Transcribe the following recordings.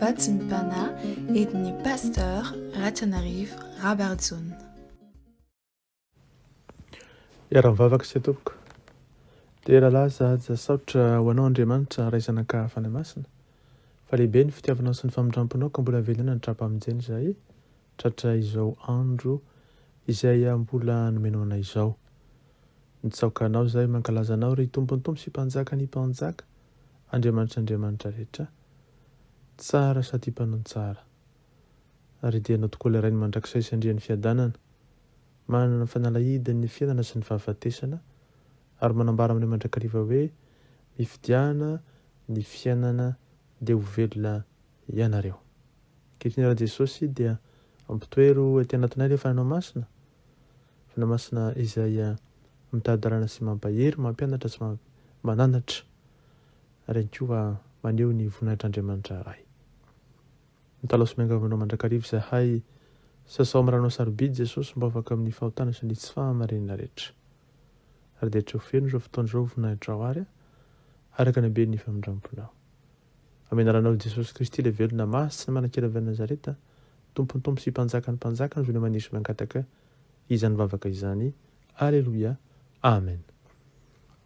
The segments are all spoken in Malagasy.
Vatsy ny Pana edin'ny Pasteur Ratranarivo Rabarijohn. Iara-mivavaka isika tompoko. Dera lahy zaza saotra ho anao Andriamanitra Ray Zanaka Fanahy Masina fa lehibe ny fitiavanao sy ny famindramponao ka mbola velona ny tra-pamonjena izahay Tratra izao andro izay mbola nomenao anay izao. Mitsaoka Anao izahay, mankalaza Anao, ry Tompon'ny Tompo sy Mpanjakan'ny mpanjaka, Andriamanitr'i andriamanitra rehetra, Tsara sady Mpanao ny tsara. Ary dia Anao tokoa ilay Rain'ny mandrakizay sy Andrian'ny fiadanana, manana ny fanalahidin'ny fiainana sy ny fahafatesana, ary manambara aminay mandrakariva hoe, Mifidiana ny fiainana dia ho velona ianareo. Ankehitriny Ra Jesosy dia ampitoero ety anatinay le Fanahinao Masina, Fanahy Masina izay mitady dalana sy mampahery, mampianatra sy mananatra ary ihany koa maneho ny voninahitr'Andriamanitra Ray. Mitalaho sy miangavy Anao mandrakariva izahay, sasao amin'ny Ranao sarobidy Jesosy mba ho afaka amin'ny fahotana sy ny tsy fahamarinana rehetra. Ary dia tsoa feno izao fotoana izao voninahitrao ary araka ny haben'ny famindramponao. Amin'ny anaranao i Jesosy Kristy ilay velona maha sy manankery avy any Nazareta, Tompon'ny tompo sy Mpanjakan'ny mpanjaka, ny velona maniry sy mangataka izany vavaka izany. Aleloia. Amen.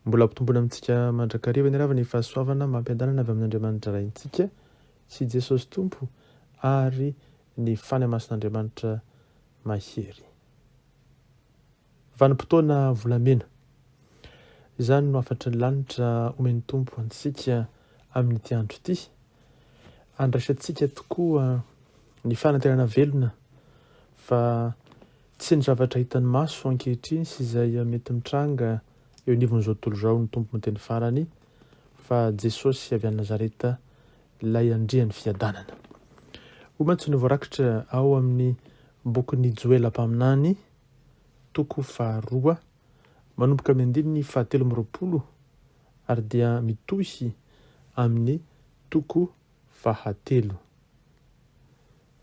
Mbola ampitomboina amintsika mandrakariva ny ravina ny fahasoavana amam-piadanana avy amin'Andriamanitra Raintsika sy Jesosy Tompo ary ny fanahy masin'Andriamanitra mahery. Vanim-potoana volamena. Izany no hafatry ny lanitra omen'ny Tompo antsika amin'ity andro ity. Andraisantsika tokoa ny fanantenana velona fa tsy ny zavatra hitan'ny maso ankehitriny sy izay mety mitranga eo anivon'izao tontolo izao ny Tompo miteny farany fa Jesosy avy any Nazareta Ilay Andrian'ny Fiadanana. Hoy mantsy ny voarakitra ao amin'ny bokin'i Joela mpaminany, toko faharoa, manomboka amin'ny andininy fahatelo amby roapolo ary dia mitohy amin'ny toko fahatelo.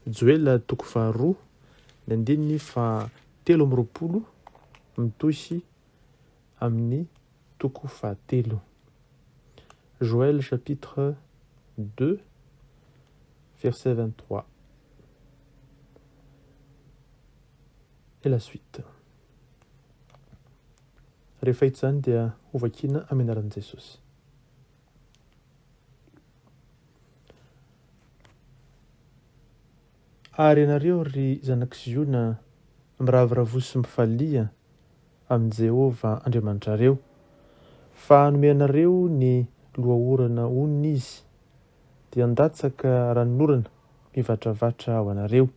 Joela toko faharoa, ny andininy fahatelo amby roapolo mitohy amin'ny Toko fahatelo. Joël chapitre deux verset vingt-trois et la suite. Rehefa hita izany dia hovakiana amin'ny anaran'i Jesosy. Ary ianareo ry zanak'i Ziona, miravoravoa sy mifalia, amin'i Jehovah Andriamanitrareo, fa hanome anareo ny loha-orana onony izy, dia handatsaka ranon'orana mivatravatra ho anareo,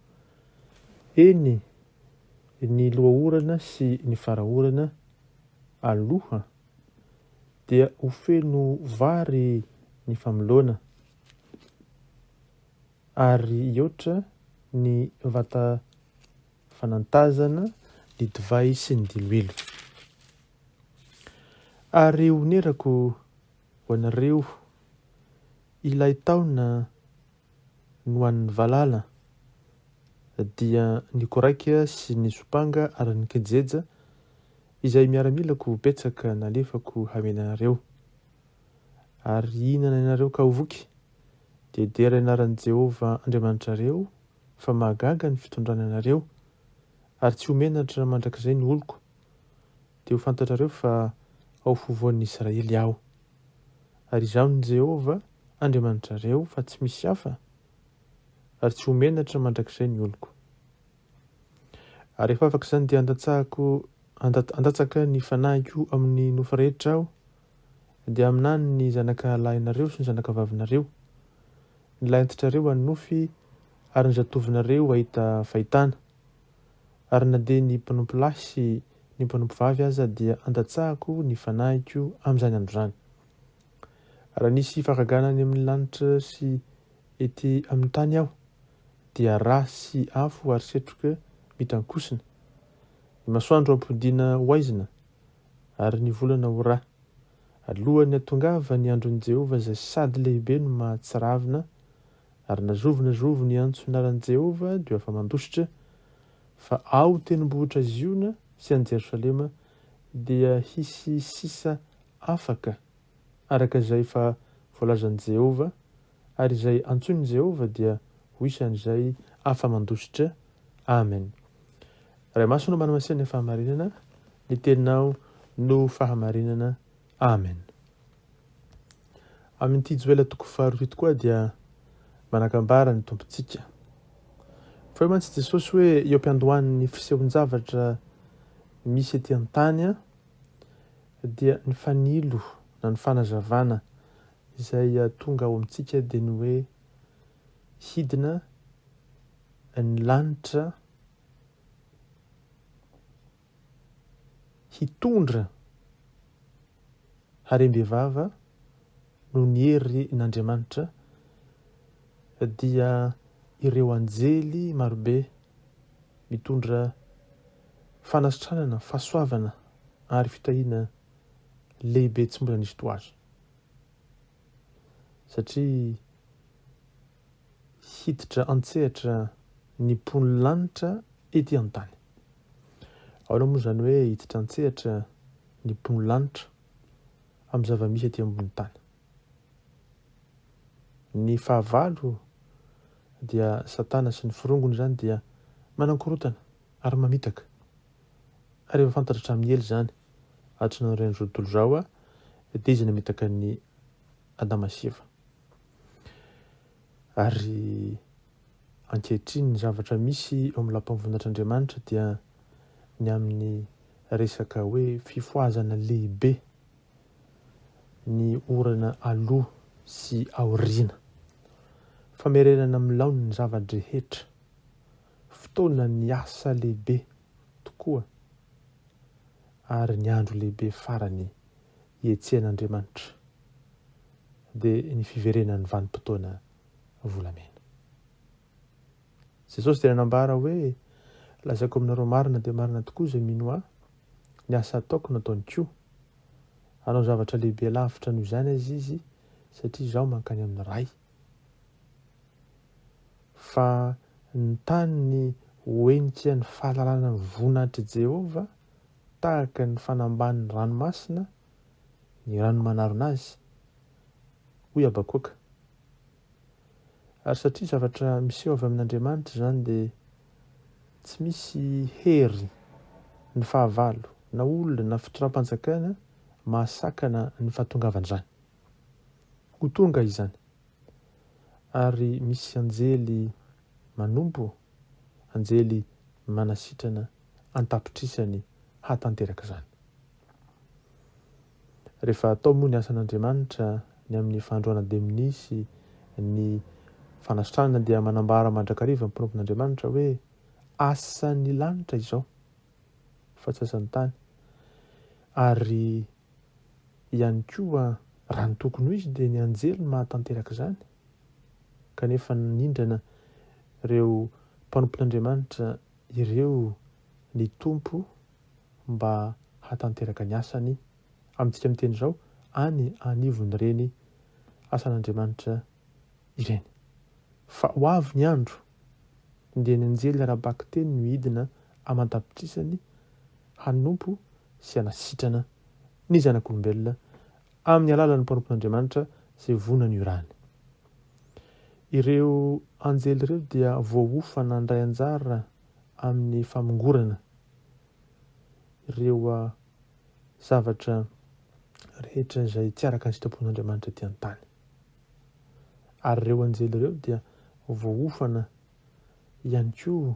eny, ny loha-orana sy ny fara-orana aloha, dia ho feno vary ny famoloana. ary hihoatra ny vata fanantazana ny divay sy ny diloilo. Ary honerako ho anareo ilay taona no an'ny valala, dia ny koraika sy ny sompanga ary ny kijeja izay miaramilako betsaka nalefako hamely anareo. Ary hihinana ianareo ka ho voky. dia dera ny anaran'i Jehovah Andriamanitrareo, fa mahagaga ny fitondrany anareo, ary tsy ho menatra mandrakizay ny oloko, dia ho fantatrareo fa ao afovoan'ny Israely aho. Ary izaho ny Jehovah Andriamanitrareo, fa tsy misy hafa, ary tsy ho menatra mandrakizay ny oloko. Ary rehefa afaka izany, dia handatsahako, handatsaka ny fanahiko amin'ny nofy rehetra aho, dia haminany ny zanaka lahinareo sy ny zanaka vavinareo, ny lahintitrareo hanonofy, ary ny zatovinareo hahita fahitana. Ary na dia ny mpanompo lahy sy ny mpanompo vavy aza dia andatsahako ny fanahiko amin'izany andro izany. Raha nisy fahagagana any amin'ny lanitra sy ety amin'ny tany aho, dia rà sy afo ary setroka mitankosina. Ny masoandro hampodiana ho aizina, ary ny volana ho ra. Alohan'ny hatongavan'ny andron'i Jehovah izay sady lehibe no mahatsiravina, ary na zovy na zovy niantso ny anaran'i Jehovah dia ho afa-mandositra, fa ao tendrombohitra Ziona sy any Jerosalema dia hisy sisa afaka, araka izay efa voalazan'i Jehovah ary izay antsoin'i Jehovah dia ho isan'izay afa-mandositra. Amen. Ray Masina Manamasinan'ny Fahamarinana, ny Teninao no Fahamarinana. Amen. Amin'ity Joela toko faharoa ity tokoa dia manakambara ny Tompontsika. Fa hoe mantsy Jesosy hoe eo am-piandohan'ny fisehoan-javatra misy ety an-tany dia ny fanilo na ny fanazavana Izay tonga ao amintsika dia ny hoe hidina ny lanitra hitondra harem-bevava noho ny herin'Andriamanitra dia ireo anjely marobe mitondra fanasitranana, fahasoavana ary fitahiana lehibe tsy mbola nisy toa azy. satria hiditra an-tsehatra ny mpon'ny lanitra ety an-tany. Ahoana moa izany hoe hiditra an-tsehatra ny mpon'ny lanitra amin'ny zava-misy ety ambony tany? Ny fahavalo dia Satana sy ny firongony izany dia manankorotana ary mamitaka. Ary efa fantatra hatramin'ny ela izany, atsinain'ny ren'ny tontolo izao, dia izy namitaka an'i Adama sy Eva. Ary ankehitriny ny zavatra misy eo amin'ny lapan'ny voninahitr'Andriamanitra dia ny amin'ny resaka hoe fifohazana lehibe ny orana aloha sy aoriana. Famerenana amin'ny laoniny ny zava-drehetra. Fotoana ny asa lehibe tokoa ary ny andro lehibe farany ietsehan'Andriamanitra dia ny fiverenan'ny vanim-potoana volamena. Jesosy dia nanambara hoe, Lazaiko aminareo marina dia marina tokoa izay mino Ahy, ny asa ataoko no ataony koa. Hanao zavatra lehibe lavitra noho izany aza Izy satria Izaho mankany amin'ny Ray. Fa ny tany ny hoenika ny fahalalana ny voninahitr'i Jehovah, tahaka ny fanambanin'ny ranomasina ny rano manarona azy, hoy Habakoaka. Ary satria zavatra miseho avy amin'Andriamanitra izany, dia tsy misy hery ny fahavalo, na olona na fitondram-panjakana mahasakana ny fahatongavan'izany. Ho tonga izany. Ary misy anjely manompo, anjely manasitrana an-tapitrisany hahatanteraka izany. Rehefa atao moa ny asan'Andriamanitra ny amin'ny Fahandroana dia minisy ny fanasitranana dia manambara mandrakariva ny mpanompon'Andriamanitra hoe asan'ny lanitra izao fa tsy asan'ny tany ary ihany koa raha ny tokony ho izy dia ny anjely no mahatanteraka izany kanefa nanindrana ireo mpanompon'Andriamanitra ireo ny Tompo mba hatanteraka ny asany amintsika miteny izao any anivon'ireny asan'Andriamanitra ireny. Fa ho avy ny andro dia ny anjely ara-bakiteny no hidina aman-tapitrisany hanompo sy hanasitrana ny zanak'olombelona amin'ny alalan'ny mpanompon'Andriamanitra izay vonona ny hiorahany. Ireo anjely ireo dia voaofana handray anjara amin'ny famongorana ireo zavatra rehetra izay tsy araka ny sitrapon'Andriamanitra ety an-tany. Ary ireo anjely ireo dia voaofana ihany koa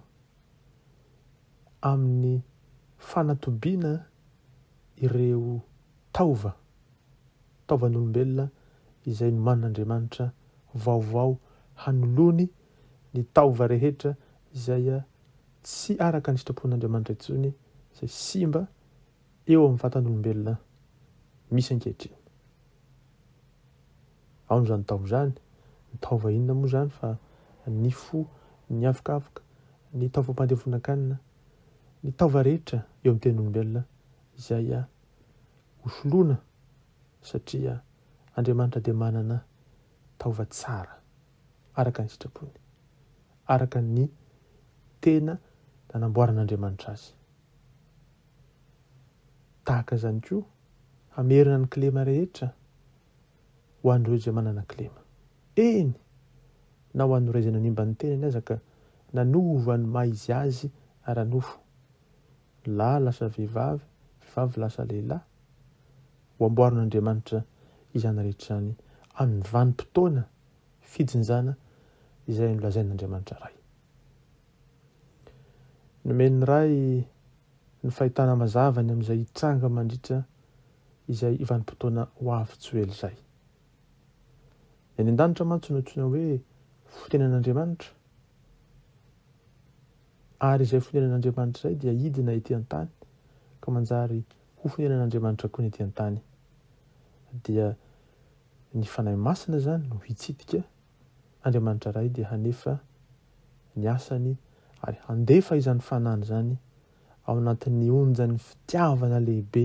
amin'ny fanatobiana ireo taova, taovan'olombelona izay nomanin'Andriamanitra vaovao hanoloany ny taova rehetra izay tsy araka ny sitrapon'Andriamanitra intsony, izay simba eo amin'ny vatan'olombelona misy ankehitriny. Aona izany taova izany? Ny taova inona moa izany fa ny fo, ny avokavoka, ny taovam-pandevonan-kanina, ny taova rehetra eo amin'ny ten'olombelona izay hosoloana satria Andriamanitra dia manana taova tsara araka ny sitrapony, araka ny tena nanamboaran'Andriamanitra azy. Tahaka izany koa, hamerina ny kilema rehetra ho an'ireo izay manana kilema. Eny, na ho an'ireo izay nanimba ny tenany aza ka nanova ny maha izy azy ara-nofo. Lahy lasa vehivavy, vehivavy lasa lehilahy. Ho amboarin'Andriamanitra izany rehetra izany amin'ny vanim-potoana fijinjana izay nolazain'Andriamanitra Ray. Nomen'ny Ray ny fahitana mazava ny amin'izay hitranga mandritra izay vanim-potoana ho avy tsy ho ela izay. Ny any an-danitra mantsy no antsoina hoe fonenan'Andriamanitra, ary izay fonenan'Andriamanitra izay dia hidina ety an-tany ka manjary ho fonenan'Andriamanitra koa ny ety an-tany. Dia ny Fanahy Masina izany no hitsidika Andriamanitra Ray dia hanefa ny asany ary handefa izany Fanahiny izany ao anatin'ny onjan'ny fitiavana lehibe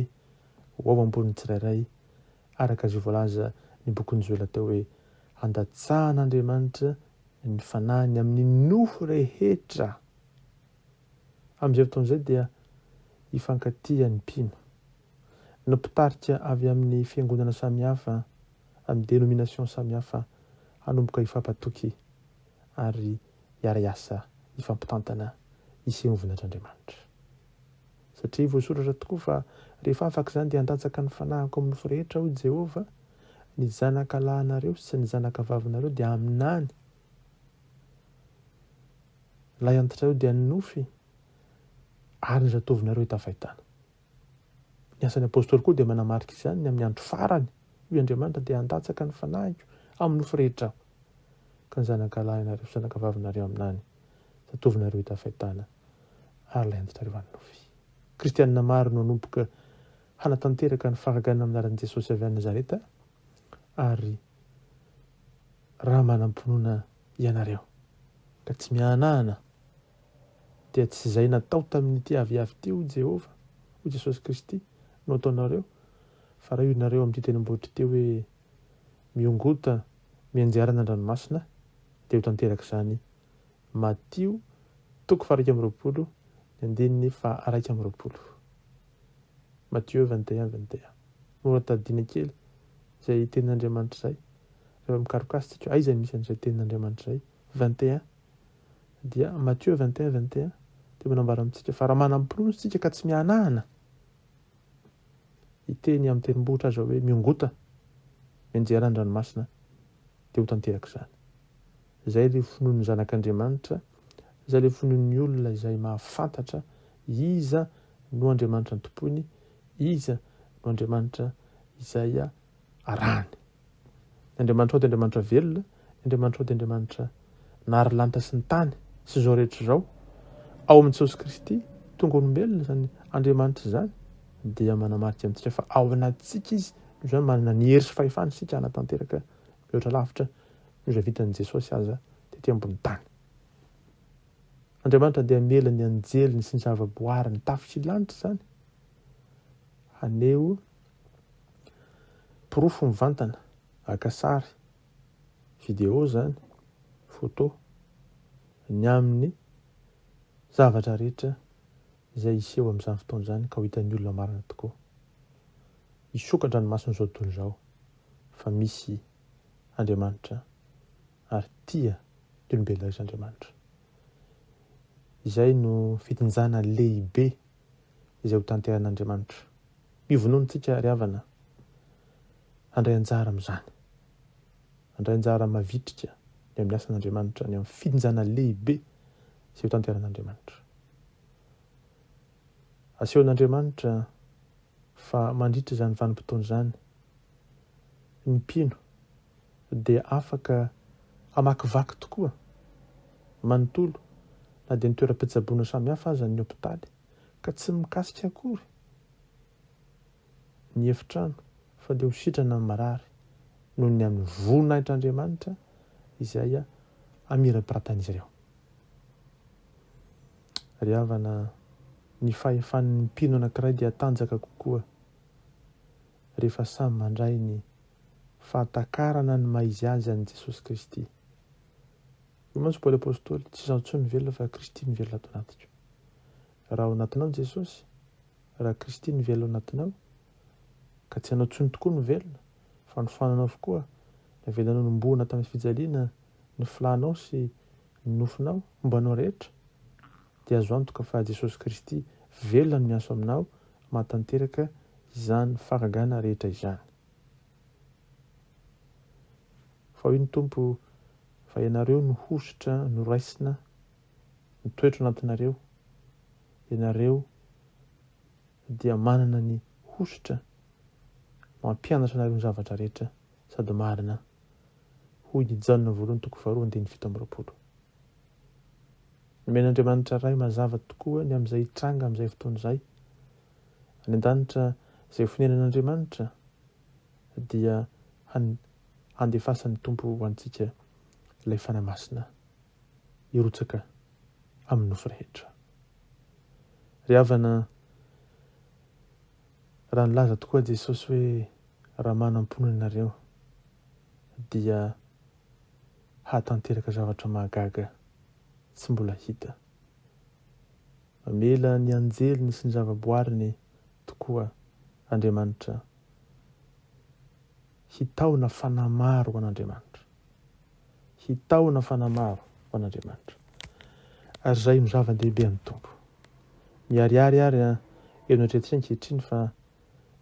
ho ao am-pon'ny tsirairay, araka izay voalaza ny bokin'i Joela teo hoe, Handatsahan'Andriamanitra ny Fanahiny amin'ny nofo rehetra. Amin'izay fotoana izay dia hifankatia ny mpino. Ny mpitarika avy amin'ny fiangonana samihafa amin'ny dénomination samihafa hanomboka hifampatoky ary hiara-hiasa hifampitantana hiseho vinatr'Andriamanitra. Satria voasoratra tokoa fa rehefa afaka izany dia handatsaka ny fanahiko amin'ny nofo rehetra, hoy Jehovah, ny zanaka lahinareo sy ny zanaka vavinareo dia aminany lahy antitrareo dia ny nofy ary ny zatovinareo hita fahitana. Ny asan'ny apostoly koa dia manamarika izany, ny amin'ny andro farany, hoy Andriamanitra, dia handatsaka ny fanahiko amin'ny nofy rehetra aho, ka ny zanakalahy nareo sy zanakavavinareo aminany, zatovinareo hita fahitana, ary ilay antitrareo anonofy. Kristianina maro no hanomboka hanatanteraka ny fahagagana amin'ny anaran'i Jesosy avy any Nazareta, ary raha manam-pinoana ianareo, ka tsy mihanahana, dia tsy izay natao tamin'ity aviavy ity, hoy Jehovah, hoy Jesosy Kristy, no ataonareo, fa raha ianareo amin'ity tenimbonitry ity hoe, 'Miongota mianjera any an-dranomasina', dia ho tanteraka izany. Matio toko faha-iraika amby roapolo, ny andininy faha-iraika amby roapolo. Matthieu 21, 21. Mora tadidiana kely izay tenin'Andriamanitra izay, rehefa mikaroka azy isika, aiza misy an'izay tenin'Andriamanitra izay? vingt et un dia Matthieu vingt et un vingt et un dia manambara amintsika fa raha manam-pinoana isika ka tsy mihanahana hiteny amin'ny tendrombohitra aza hoe miongota mianjera any ranomasina dia ho tanteraka izany izay ilay finoan'ny zanak'Andriamanitra izay ilay finoan'ny olona izay mahafantatra iza no Andriamanitra antompoiny iza no Andriamanitra izay arahany. Ny Andriamanitrao dia Andriamanitra velona, ny Andriamanitrao dia Andriamanitra nahary lanitra sy ny tany sy izao rehetra izao. Ao amin'i Jesosy Kristy, tonga olombelona izany Andriamanitra izany, dia manamarika amintsika fa ao anatintsika izy, noho izany manana ny hery sy fahefana isika hanatanteraka mihoatra lavitra noho izay vitan'i Jesosy aza tety ambony tany. Andriamanitra dia hamela ny anjeliny sy ny zavaboariny tafika lanitra izany haneho Porofo mivantana, aka sary, video izany, photo, ny amin'ny zavatra rehetra izay hiseho amin'izany fotoana izany ka ho hitan'ny olona marina tokoa. Hisokatra ny mason'izao tontolo izao fa misy Andriamanitra ary tia ny olombelona rehetra Andriamanitra. Izay no fitinjana lehibe izay hotanterahin'Andriamanitra. Mivonono antsika ry havana handray anjara amin'izany. Handray anjara mavitrika ny amin'ny asan'Andriamanitra, ny amin'ny fijinjana lehibe izay hotanterahin'Andriamanitra. Asehon'Andriamanitra fa mandritra izany vanim-potoana izany, ny mpino dia afaka hamakivaky tokoa manontolo na dia ny toeram-pitsaboana samihafa aza ny hopitaly ka tsy mikasika akory ny efitrano fa dia ho sitrana ny marary noho ny amin'ny voninahitr'Andriamanitra izay hamirapiratan'izy ireo. Ry havana, ny fahefan'ny mpino anankiray dia tanjaka kokoa rehefa samy mandray ny Fahatakarana ny maha izy azy an'i Jesosy Kristy. Hoy mantsy Paoly Apostoly, Tsy izaho intsony no velona fa Kristy no velona ato anatiko. Raha ao anatinao ny Jesosy, raha Kristy no velona ao anatinao, ka tsy ianao intsony tokoa no velona, fa ny fananao avokoa, navelanao nombohina tamin'ny fijaliana ny flanao sy ny nofinao, momba anao rehetra, dia azo antoka fa Jesosy Kristy velona no miasa ao aminao mahatanteraka izany fahagagana rehetra izany. Fa hoy ny Tompo, Fa ianareo no hosotra noraisina, ny toetro nantinareo, ianareo dia manana ny hosotra mampianatra anareo ny zavatra rehetra sady marina. Hoy i Jaona voalohany toko faharoa andininy fito amby roapolo. Nomen'Andriamanitra Ray mazava tokoa ny amin'izay hitranga amin'izay fotoana izay. Any an-danitra, izay fonenan'Andriamanitra dia han, handefasan'ny Tompo ho antsika ilay Fanahy Masina hirotsaka amin'ny nofo rehetra. Ry havana, raha nilaza tokoa Jesosy hoe raha manam-poana ianareo, dia hahatanteraka zavatra mahagaga tsy mbola hita. Mamela ny anjeliny sy ny zavaboariny tokoa Andriamanitra hitahona fanahy maro ho an'Andriamanitra. Hitahona fanahy maro ho an'Andriamanitra. Ary izay no zava-dehibe amin'ny Tompo. Miharihary ary eo no eritreretintsika ankehitriny fa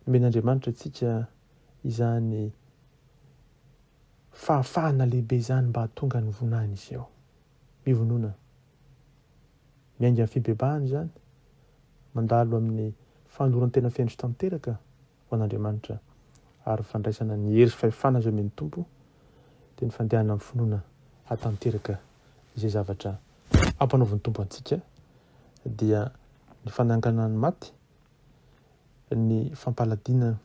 nomen'Andriamanitra antsika izany Fahafahana lehibe izany mba hahatonga ny vonahiny hiseho. Mivonona. Miainga amin'ny fibebahana izany. Mandalo amin'ny fanoloran-tena feno sy tanteraka ho an'Andriamanitra ary fandraisana ny hery sy fahefana izay omen'ny Tompo, dia ny fandehana amin'ny finoana hahatanteraka izay zavatra ampanaovin'ny Tompo antsika dia ny fananganana ny maty, ny fampaladina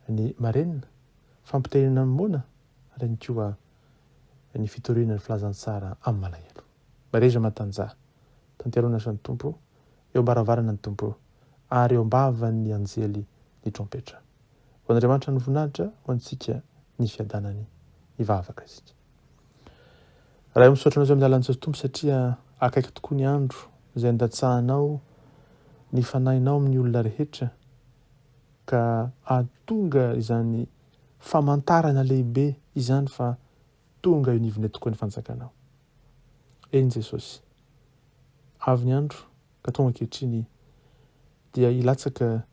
ny marenina, fampiterena ny moana ary ihany koa ny fitoriana ny filazantsara amin'ny malahelo. Mahereza Matanjaha, tantero ny asan'ny Tompo, eo am-baravarana ny Tompo ary eo am-bavan'ny anjely ny trompetra. Ho an'Andriamanitra ny voninahitra, ho antsika ny fiadanany. Hivavaka isika. Ray misaotra anao izay midala antsika Tompo satria akaiky tokoa ny andro izay andatsahanao ny fanahinao amin'ny olona rehetra ka ahatonga izany famantarana lehibe izany fa tonga eo nivone tokoa ny fanjakanao. Eny Jesosy, avy ny andro ka tonga ankehitriny dia hilatsaka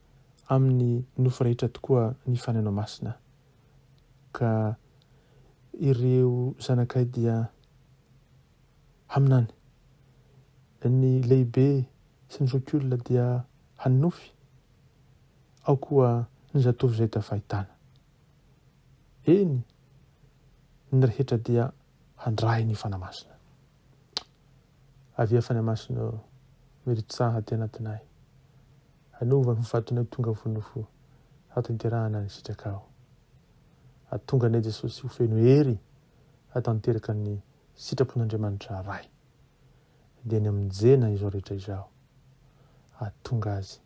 amin'ny nofo rehetra tokoa ny fanahinao masina. ka ireo zanakay dia haminany, ny lehibe sy ny zokiolona dia hanonofy, ao koa ny zatovo izay tafahitana. Eny, ny rehetra dia handray ny Fanahy Masina. Avia fanamasina ô, miritsaha aty anatinay. Anova ny vatonay tonga vonona fo, hatanterahana ny sitrakao. Atonga anay Jesosy ho feno hery hatanteraka ny sitrapon'Andriamanitra Ray. Dia ny amin'ny Jena izao rehetra izao. Atonga azy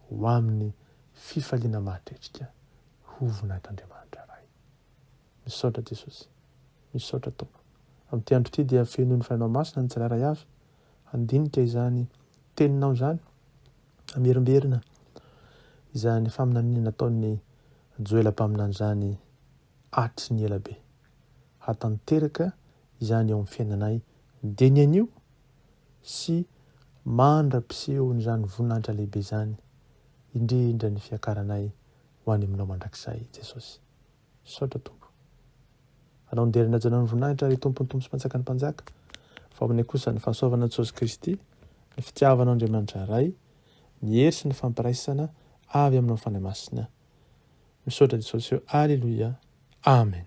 ho amin'ny fifaliana mahatretrika ho voninahitr'Andriamanitra Ray. Misaotra Jesosy. Misaotra Tompo. Amin'ity andro ity dia fenoin'ny Fanahy Masina ny tsirairay avy handinika izany Teninao izany, hamerimberina izany faminaniana nataon'i Joela mpaminany izany hatry ny ela be. Hatanteraka izany eo amin'ny fiainanay dia ny anio sy mandra-pisehon'izany voninahitra lehibe izany, indrindra ny fiakaranay ho any Aminao mandrakizay, Jesosy. Misaotra Tompo. Anao ndery nanajana ny voninahitra ry Tompon'ny Tompo sy Mpanjakan'ny Mpanjaka, fa aminay kosa ny fahasoavana an'i Jesosy Kristy, ny fitiavanao Andriamanitra Ray, ny hery sy ny fampiraisana avy aminao Fanahy Masina. Misaotra Jesosy ô Aleloia Amen.